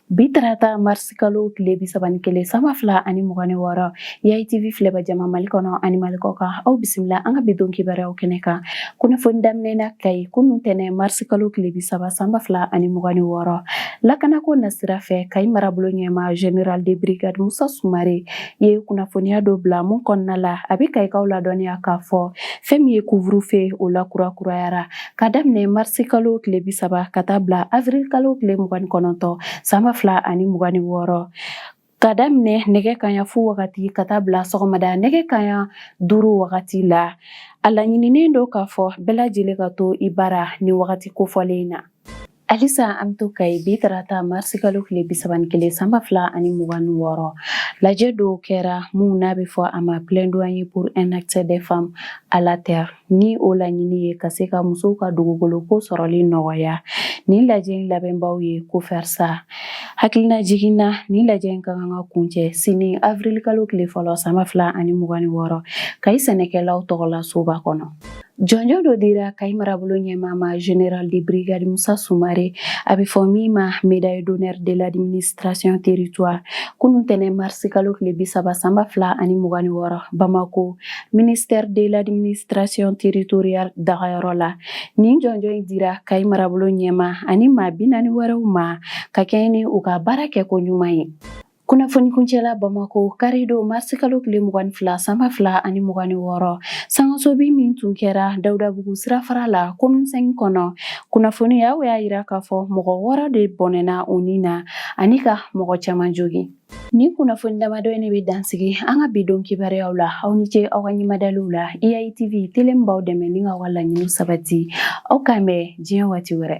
bi tarata marisikalo tile bi saba ni kelen sanba fila ani mugan ni wɔɔrɔ yitv filɛbaa jama mali kɔnɔ ani mali kɔkan aw bisimila an ka bi don kibaruyaw kɛnɛ kan kunnafoni daminɛna kayi kunun tɛnɛn marisikalo tile bi saba sanba fila ani mugan ni wɔɔrɔ lakanako nasira fɛ kayi marabolo ɲɛmaa général de brigade musa sumare ye kunnafoniya dɔ bila mun kɔnɔna la a bɛ kayikaw ladɔnniya k'a fɔ fɛn min ye couvre-feu o lakurakurayara Ka daminɛ marisi kalo tile bi saba ka taa bila avril kalo tile mugan ni kɔnɔntɔn san ba fila ani mugan ni wɔɔrɔ ka daminɛ nɛgɛ kanɲɛ fu wagati ka taa bila sɔgɔmada nɛgɛ kanɲɛ duuru wagati la a laɲininen don k'a fɔ bɛɛ lajɛlen ka to i bara nin wagati kofɔlen in na Halisa an bɛ to Kayi bi tarata marisikalo tile bi saba kelen sanba fila ani mugan ni wɔɔrɔ lajɛ dɔ kɛra mun n'a bɛ fɔ a ma plaidoyer pour un accès des femmes à la terre ni o laɲini ye ka se ka musow ka dugukolo ko sɔrɔli nɔgɔya nin lajɛ in labɛnbaw ye COFERSA hakilinajigin na nin lajɛ in ka kan ka kun cɛ sini avrilkalo tile fɔlɔ sanba fila ani mugan ni wɔɔrɔ Kayi sɛnɛkɛlaw tɔgɔlasoba kɔnɔ Jɔnjɔn dɔ dira Kayi marabolo ɲɛmaa ma Général de brigade Musa Sumare, a bɛ fɔ min ma médaille d'honneur de l'administration territoire kunun tɛnɛn mars kalo tile 30 san 2026 Bamako, ministère de l'administration territoriale dagayɔrɔ la. Nin jɔnjɔn in dira Kayi marabolo ɲɛmaa ani maa 40 wɛrɛw ma, ka kɛɲɛ ni u ka baara kɛko ɲuman ye. Kunnafoni kuncɛla Bamakɔ kari don mars kalo tile mugan ni fila san ba fila ani mugan ni wɔɔrɔ, sangasobi min tun kɛra Dawudabugu sirafara la commune V kɔnɔ, kunnafoniyaw y'a jira k'a fɔ mɔgɔ wɔɔrɔ de bɔnɛna u ni na ani ka mɔgɔ caman jogin. Nin kunnafoni damadɔ in de bɛ dansigi an ka bi don kibaruyaw la. Aw ni ce aw ka ɲɛmadaliw la. YITV, tele min b'aw dɛmɛ ni k'aw ka laɲiniw sabati. Aw k'an bɛn diɲɛ waati wɛrɛ.